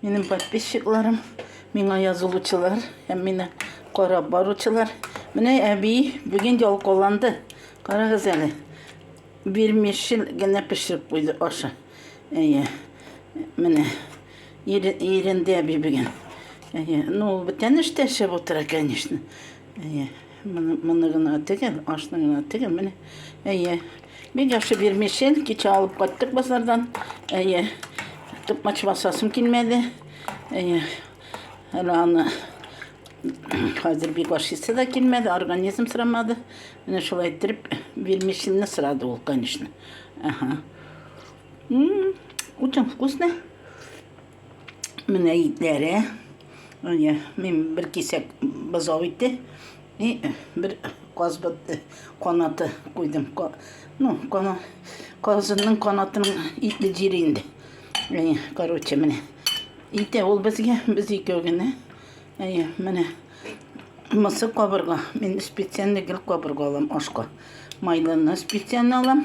Минем подписчикларым, миңа язылучылар һәм мине карап баручылар. Менә әби бүген ялкаланды. Карагыз әле. Бирмешел генә пешереп куйды ашы. Әйе. Менә иренде әби бүген. Әйе. Ну, бетән эштә эшләп утыра, конечно. Әйе. Моны гына тегеп, ашны гына тегеп, менә. Әйе. Бик яхшы бирмешен, кичә алып кайттык базардан. Әйе. Тукмач басасым килмәде. Әйе. Әле аны хәзер бик ашыйсы да килмәде, организм сорамады. Менә шулай иттереп бирмешенне сорады ул, конечно. Ага. Очень вкусно. Менә итләре. Менә мин бер кисәк бозау ите и бер казбыт канаты куйдым. Ну, кана казынның канатының итле җире инде. Әйе, короче, менә. Ите ул безгә, без икәү генә. Әйе, менә. Мысы кабырга. Мин специально гел кабырга алам ашка. Майлыны специально алам.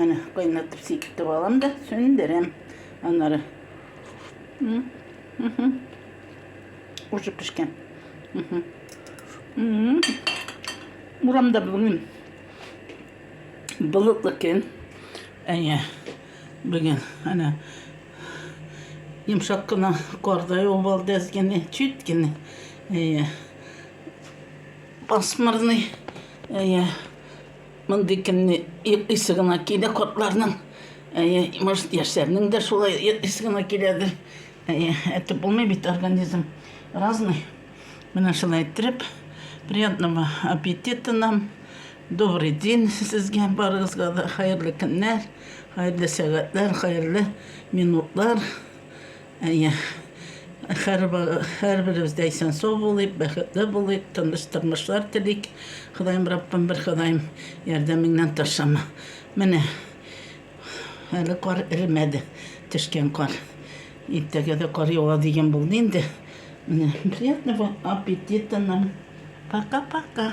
Әне кайнатып сикертеп алам да сөндерәм. Аннары уже пешкән. Урамда бүген болытлы көн. Әйе, бүген әнә Йомшак кына карда юбылды әз генә, чит кенә. Әйе. Пасмырный. Әйе. Мондый көнне исе гына килә картларның. Әйе, может, яшьләрнең дә шулай исе гына киләдер. Әйе, әйтеп булмый бит организм разный. Менә шулай иттереп, приятного аппетита нам. Добрый день сезгә барыгызга да хәерле көннәр. Хәерле сәгатьләр, хәерле минутлар. Әйе, хәр ба, һәрберебез дә исән-сау булыйк, бәхетле булыйк, тыныч тормышлар телик. Ходаем Раббым бер, Ходаем, ярдәмеңнән ташлама. Менә, әле кар эремәде, төшкән кар. Иртәгә дә кар ява дигән булды инде. Менә, приятного аппетита нам. Пока-пока.